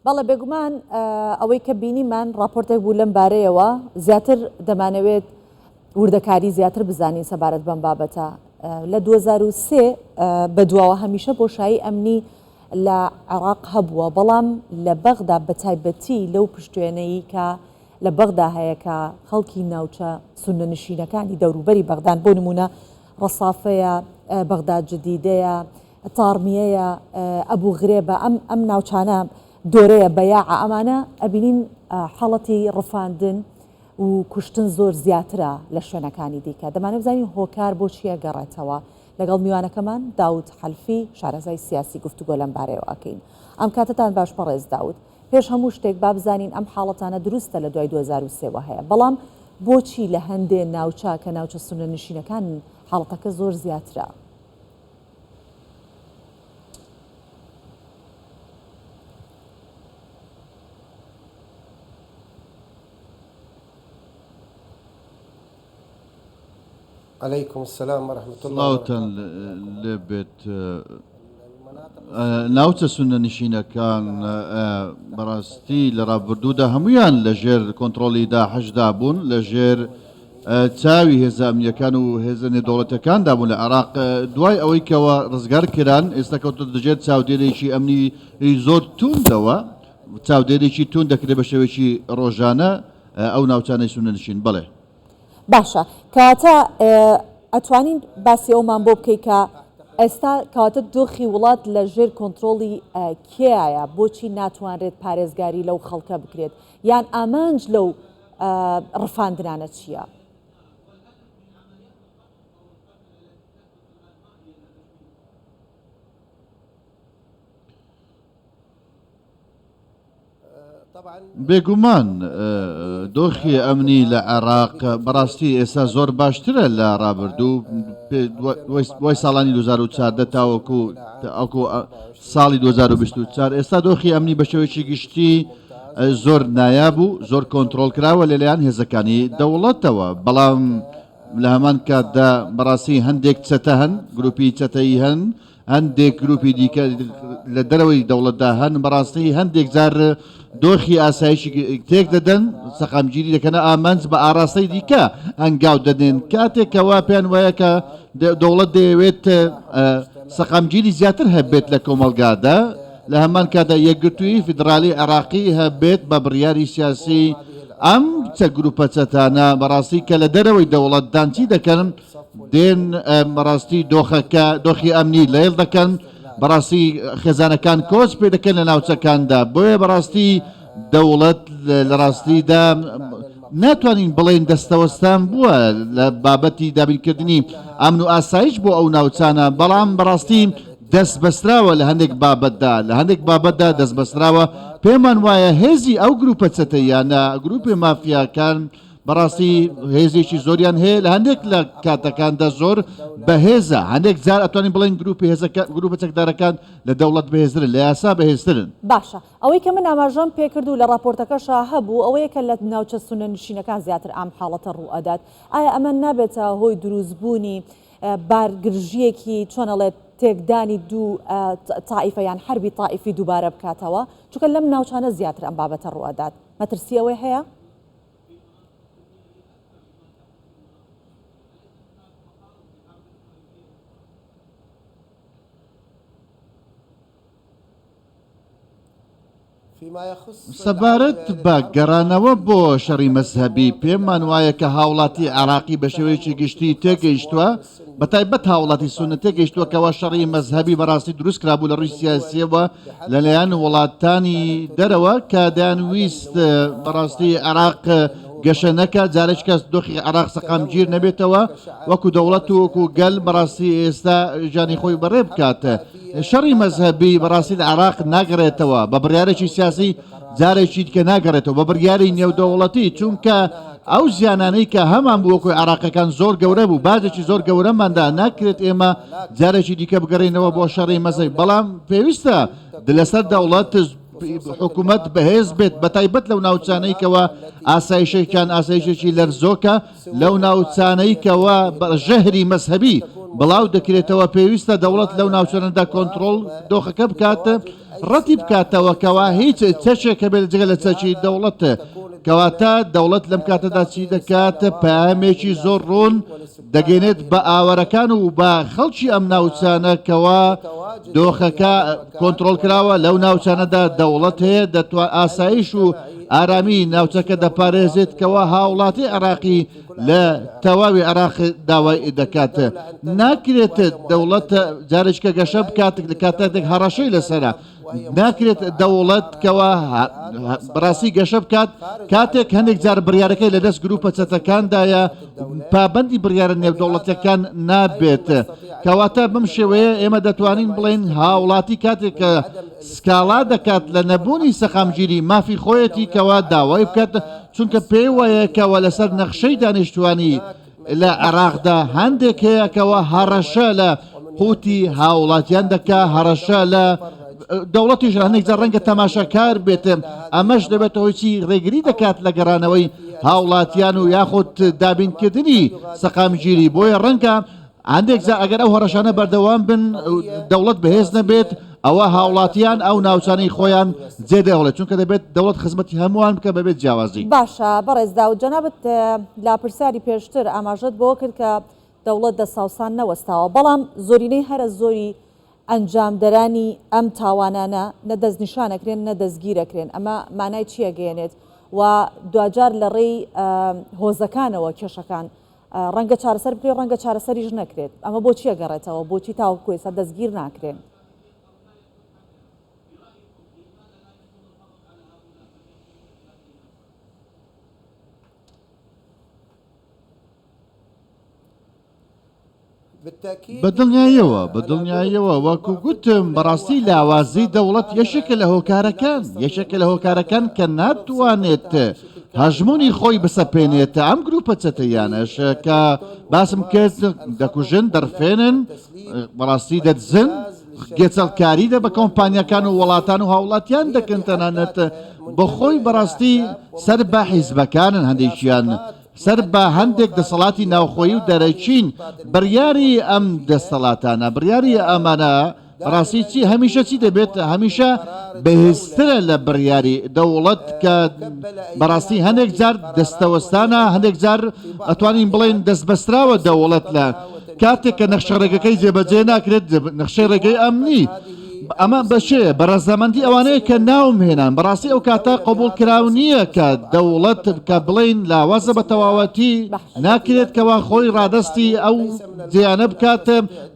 بەڵێ بێگومان ئەوەی کە بینیمان راپۆرتێک بوو لەم بارەیەوە زیاتر دەمانەوێت وردەکاری زیاتر بزانین سەبارەت بەم بابەتە لە 2023 بە دواوە هەمیشە بۆشایی ئەمنی لە عێراق هەبووە بەڵام لە بەغدا بە تایبەتی لەو پشتێنەی کە لە بەغدا هەیە کە خەڵکی ناوچە سونە نشینەکانی دەوروبەری بەغدان بۆ نمونە ڕەسافەیە، بەغداد جدیدەیە، تاڕمیەیە، ئەبو غرێبە، ئەم ئەم ناوچانە دۆرەیە، بەیاعە، ئەمانە ئەبینین حاڵەتی ڕفاندن و کوشتن زۆر زیاترە لە شوێنەکانی دیکە، دەمانەوێت بزانین هۆکار بۆ چییە گەڕێتەوە؟ لەگەڵ میوانەکەمان داود حەلفی شارەزای سیاسی گفتوگۆ لەم بارەیەوە ئەکەین. ئەم کاتەتان باش بەڕێز داود. پێش هەموو شتێک با بزانین ئەم حاڵەتانە دروستە لە دوای دوو هەزار و سێ وە هەیە بەڵام بۆچی لە هەندێ ناوچە کە ناوچە سوننە نشینەکانن حاڵەتەکە زۆر زیاترە؟ علیکم سلام ورحمت اللە سڵاوتان لێ بێت ناوچە سونە نشینەکان بەڕاستی لە ڕابردوودا هەمویان لە ژێر کۆنتترۆلی دا حەشدا بوون لە ژێر چاوی هێزاامیەکان و هێزە نێدوڵەتەکاندا بوون لە عراق دوای ئەوەی کەەوە ڕزگار کران ئێستا کەوتە دژێت چاودێرێکی ئەمنی زۆر توندەوە چاودێرێکی تون دەکرێت بە شێوێکی ڕۆژانە ئایا ئەو ناوچانەی سوننە نشین بەڵێ. باشە کەواتە ئەتوانین باسی ئەومان بۆ بکەی کە ئێستا کەواتە دۆخی وڵات لە ژێر کۆنترۆڵی کێایە بۆچی ناتوانرێت پارێزگاری لەو خەڵکە بکرێت یان ئامانج لەو ڕفاندنانە چییە؟ بێگومان دۆخی ئەمنی لە عێراق بەڕاستی ئێستا زۆر باشترە لە ڕابردوو وای ساڵانی 2014 تاوەکو ئەکو ساڵی 2024 ئێستا دۆخی ئەمنی بە شێوەیەکی گشتی زۆر نایاب و زۆر کۆنتترۆل کراوە لەلایەن هێزەکانی دەوڵەتەوە بەڵام لە هەمان کاتدا بەڕاستی هەندێک چەتە هەن گروپی چەتەی هەن هەندێک گروپی دیکە لە دەرەوەی دەوڵەتدا هەن بەڕاستی هەندێک جار دۆخی ئاسایشی تێک دەدەن سەقامگیری دەکەنە ئامانج بە ئاراستەی دیکە ئەنگاو دەدێن کاتێکەوە پێیان وایە کە دەوڵەت دەیەوێت سەقامگیری زیاتر هەبێت لە کۆمەلگادا لە هەمان کادا یەکگرتووی فیدراالی عراقی هەبێت بە بڕیاری سیاسی ئەم چە گروپە چەتانە بەڕاستی کە لە دەرەوەی دەوڵەتدانچی دەکەن دێن بەڕاستی دۆخەکە دۆخی ئەمنی لەیڵ دەکەن بەڕاستی خێزانەکان کۆچ پێ دەکەن لە ناوچەکاندا بۆیە بەڕاستی دەوڵەت لە ڕاستیدا ناتوانین بڵێن دەستەوەستان بووە لە بابەتی دابینکردنی ئەمن و ئاسایش بۆ ئەو ناوچانە بەڵام بەڕاستی دەست بەستراوە لە هەندێک بابەتدا لە هەندێک بابەتدا دەست بەستراوە پێمان وایە هێزی ئەو گروپە چەتەیانە گروپی مافیاکان بەڕاستی هێزێکی زۆریان هەیە لە هەندێک لە کاتەکاندا زۆر بەهێزە هەندێک جار ئەتوانین بڵێن گروپی هێزەکە گروپە چەکدارەکان لە دەوڵەت بەهێزرن لە یاسا بەهێزترن باشە ئەوەی کە من ئاماژەم پێکرد و لە ڕاپۆرتەکەشا هەبوو ئەوەیە کە لە ناوچە سونە نشینەکان زیاتر ئام حاڵەتە ڕوو ئەدات ئایا ئەمە نابێتە هۆی دروستبوونی بارگرژیەکی چۆنەڵێت تێکدانی دوو تاائیفە یان حربی تاائیفی دووبارە بکاتەوە چکە لەم ناوچانە زیاتر ئەم بابەتە ڕوئدات مەترسی ئەوەی هەیە؟ سەبارەت بە گەڕانەوە بۆ شەڕی مەزهەبی پێمانوایە کە هاوڵاتی عراقی بە شێوەیەکی گشتی تێگەیشتووە بە تایبەت هاوڵاتی سونە تێگەیشتووە کەوا شەڕی مەزهەبی بەڕاستی دروست کرابوو لە ڕووی سیاسیەوە لەلایەن وڵاتانی دەرەوە کە دەیان ویست بەڕاستی عراق گەشە نەکە جارێک کەس دۆخی عراق سەقام گیر نەبێتەوە وەکو دەوڵەت و وەکو گەل بەڕاستی ئێستا ژانی خۆی بەڕێ بکاتە شەڕی مەزهبی بەڕاستی لە عراق ناگەڕێتەوە بە بڕارێکی سیاسی جارێکی دیکە ناگەڕێتەوە بە بڕیاری نێودەوڵەتی، چونکە ئەو زیانانەی کە هەمان بوو وەکۆی عراقەکان زۆر گەورە بوو باجێکی زۆر گەورەماندا ناکرێت ئێمە جارێکی دیکە بگەڕێنەوە بۆ شەڕی مەزەی بەڵام پێویستە لەسەر دەوڵەت حکوومەت بەهێز بێت بە تایبەت لەو ناوچانەیکەوە ئاسایشێکیان ئاسایشێکی لەرزۆکە لەو ناوچانەیکەوە ژەهری مەذهبی بڵاو دەکرێتەوە پێویستە دەوڵەت لەو ناوچەنەدا کۆنتترۆل دۆخەکە بکاتە ڕەتی بکاتەوە کەوا هیچ چەکێک هەبێت جگە لە چەکی دەوڵەت کەواتە دەوڵەت لەم کاتەدا چی دەکات پامێکی زۆر ڕوون دەگەێنێت بە ئاوارەکان و بە خەڵکی ئەم ناوچانە کەوا دۆخەکە کۆنتترۆل کراوە لەو ناوچانەدا دەوڵەت هەیە دەتوان ئاسایش و ئارامی ناوچەکە دەپارێزێت کەوا هاوڵاتی عراقی لە تەواوی عێراق داوای دەکات ناکرێت دەوڵەت جارشکە گەشە بکات لە کاتاتێک هەڕەشەی لەسرە ناکرێت دەوڵەت کەەوە بڕاستی گەشە بکات کاتێک هەندێک جار بڕارەکەی لە دەست گروپە چەتەکاندایە پابندی بڕارە نێودەوڵەتەکان نابێت کەواتە بم شێوەیە ئێمە دەتوانین بڵێن هاوڵاتی کاتێک کە سکاڵا دەکات لە نەبوونی سەقامگیری مافی خۆیەتی کەوا داوای بکات چونکە پێی وایە کەوە لەسەر نەخشەی دانیشتوانی لە عێراقدا هەندێک هەیە کەوە هەڕەشە لە قوتی هاوڵاتیان دەکا هەڕەشە لە دەوڵەتی ژانێک جە ڕەنگە تەماشاکار بێتم ئەمەش دەبێتە هۆیچی ڕێگری دەکات لە گەڕانەوەی هاوڵاتیان و یاخود دابینکردنی سەقامگیری بۆیە ڕەنگە هەندێک جا ئەگەر ئەو هەڕەشانە بەردەوام بن و دەوڵەت بەهێز نەبێت ئەوە هاوڵاتیان ئەو ناوچانەی خۆیان جێ دەهڵێت چونکە دەبێت دەوڵەت خزمەتی هەمووان بکە بەبێت جیاوازی باشە بەڕێز داود جەنابت لا پرسیاری پێشتر ئاماژەت بۆ کرد کە دەوڵەت دە ساوسان نەوەستاوە بەڵام زۆرینەی هەرە زۆری ئەنجامدەرانی ئەم تاوانانە نە دەستنیشانەکرێن نە دەستگیرەکرێن ئەمە مانای چیەگەیەنێت و دواجار لە ڕێی هۆزەکانەوە کێشەکان ڕەنگە چارەسەر بکرێت ڕەنگە چارەسەریش نەکرێت، ئەمە بۆچی ئەگەڕێتەوە، بۆچی تاوەکو ئێستا دەستگیر ناکرێن؟ بە دڵنیایەوە، بە دڵنیایەوە، وەکو گوتم، بەڕاستی لاوازی دەوڵەت یەکێکە لە هۆکارەکان، یەکێکە لە هۆکارەکان کە ناتوانێت هەژموونی خۆی بسەپێنێت، ئەم گرووپە چەتەییانەش کە باسم کرد دەکوژن، دەڕفێنن، بەڕاستی دەدزن، گێچەڵکاری دە بە کۆمپانیاکان و وڵاتان و هاوڵاتیان دەکەن تەنانەت بە خۆی بەڕاستی سەر بە حیزبەکانن هەندێکیان سەر بە هەندێک دەسەڵاتی ناوخۆیی و دەرەکین بڕیاری ئەم دەستەڵاتانە بڕیاری ئەمانە بەڕاستی چی هەمیشە چی دەبێت هەمیشە بەهێزترە لە بڕیاری دەوڵەت کە بەڕاستی هەندێک جار دەستەوەستانە هەندێک جار ئەتوانین بڵێن دەست بەستراوە دەوڵەت لە کاتێک کە نەخشە ڕێگەکەی جێبەجێ ناکرێت نەخشەی ڕێگەی ئەمنی ئەمە بە چێ بە ڕەزامەندی ئەوانەیە کە ناوم هێنان بەڕاستی ئەو کاتە قبول کراو نییە کە دەوڵەت کە بڵین لاوازە بە تەواوەتی ناکرێت کەوا خۆی ڕادستی ئەو دیانە بکات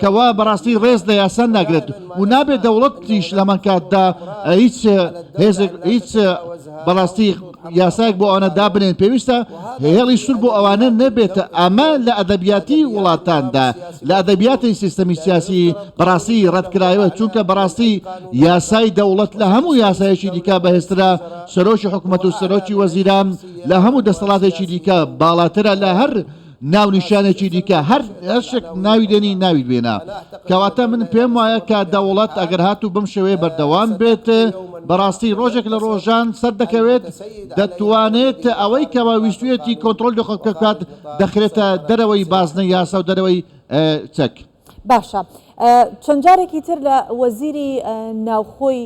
کەوا بەڕاستی ڕێز لە یاسان ناگرێت و نابێت دەوڵەتیش لەمەکاتدا هیچ هێزێک هیچ بەڕاستی یاسایەک بۆ ئەوانە دابنێن پێویستە هێڵی سور بۆ ئەوانە نەبێتە ئەمە لە ئەدەبیاتی وڵاتاندا لە ئەدەبیاتی سیستەمی سیاسی بەڕاستی ڕەتکرایەوە چونکە بەڕاستی یاسای دەوڵەت لە هەموو یاسایەکی دیکە بەهێسترا سەرۆکی حکوومەت و سەرۆکی وەزیران لە هەموو دەستەڵاتێکی دیکە باڵاترە لە هەر ناونیشانێکی دیکە هەر شک ناوی دێنی ناوی بێنا کەواتە من پێم وایە کە دەوڵەت ئەگەر هات و بم شوێ بەردەوام بێت بەڕاستی ڕۆژێک لە ڕۆژان سەر دەکەوێت دەتوانێت ئەوەی کەوا ویستوێتی کۆنتترۆل لە خەڵکە کات دەخرێتە دەرەوەی بازنە یاسا و دەرەوەی چەک باشە چەند جارێکی تر لە وەزیری ناوخۆی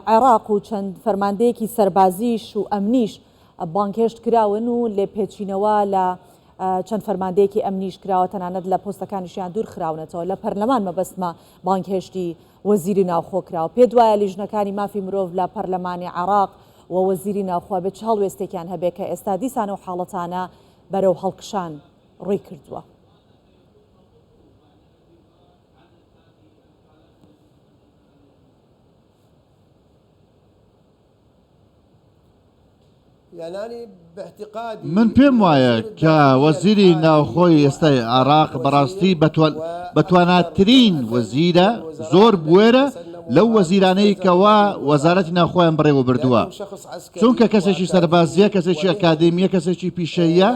عێراق و چەند فەرماندەیەکی سەربازیش و ئەمنیش بانگهێشت کراون و لێپێچینەوە لە چەند فەرماندەیەکی ئەمنیش کراوە تەنانەت لە پۆستەکانیشیان دوور خراونەتەوە لە پەرلەمان مەبەستمە بانگهێشتی وەزیری ناوخۆ کراوە پێ دوایە لیژنەکانی مافی مرۆڤ لە پەرلەمانی عراق و وەزیری ناوخوا بێت چ هەڵوێستێکیان هەبێ کە ئێستا دیسانە و حاڵەتانە بەرەو هەڵکشان ڕووی کردووە. من پێم وایە کە وەزیری ناوخۆی ئێستای عێراق بەڕاستی بەتواناترین وەزیرە زۆر بوێرە لەو وەزیرانەی کەوا وەزارەتی ناوخۆیان بڕێوە بردووە چونکە کەسێکی سەربازیە کەسێکی ئەکادمیە کەسێکی پیشەیە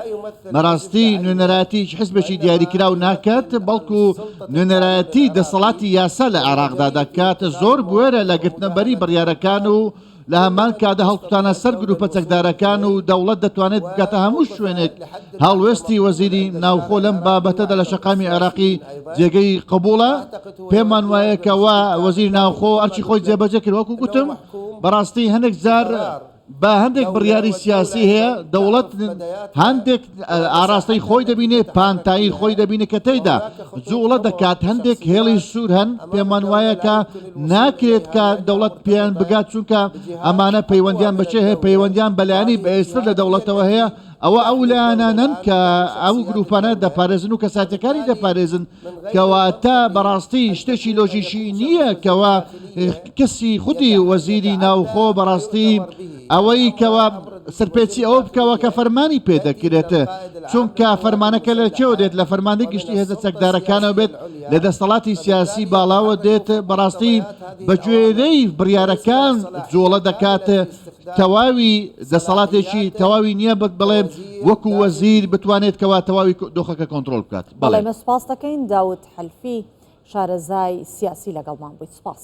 بەڕاستی نوێنەرایەتی هیچ حزبێکی دیاریکراو ناکات، بەڵکو نوێنەرایەتی دەسەڵاتی یاسا لە عێراقدا دەکات، زۆر بوێرە لە گرتنەبەری بڕیارەکان و لە هەمان کاتدا هەڵکوتانە سەر گروپە چەکدارەکان و دەوڵەت دەتوانێت بگاتە هەموو شوێنێک، هەڵوێستی وەزیری ناوخۆ لەم بابەتەدا لە شەقامی عێراقی جێگەی قبوڵە، پێمان وایە کەوا وەزیری ناوخۆ ئەرکی خۆی جێبەجێ کرد، وەکو گوتم بەڕاستی هەنێک جار. با هەندێک بڕیاری سیاسی هەیە دەوڵەت هەندێک ئاراستەی خۆی دەبینێ پانتایی خۆی دەبینە کە تێدا جوڵە دەکات هەندێک هێڵی سوور هەن پێمان وایە کە ناکرێت کە دەوڵەت پێیان بگات چونکە ئەمانە پەیوەندیان بەچێ هەیە پەیوەندیان بەلایانی بەێستر لە دەوڵەتەوە هەیە ئەوە ئەو لایەنانەن کە ئەو گروپانە دەپارێزن و کەساتەکانی دەپارێزن کەواتە بەڕاستی شتێکی لۆژیکی نییە کەوا کەسی خودی وەزیری ناوخۆ بەڕاستی ئەوەی کەوا سەرپێچی ئەوە بکەوە کە فەرمانی پێ دەکرێت چونکە فەرمانەکە لە چێوە دێت لە فەرماندە گشتی هێزە چەکدارەکانەوە بێت لە دەستەڵاتی سیاسی باڵاوە دێت بەڕاستی بەگوێرەی بڕیارەکان جۆڵە دەکات تەواوی دەسەڵاتێکی تەواوی نییە بەک بڵێن وەکو وەزیر بتوانێت کەوا تەواوی دۆخەکە کۆنتترۆل بکات بەڵێ مە سپاس دەکەین داوت حلفی شارەزای سیاسی لەگەڵمان بوویت سپاس.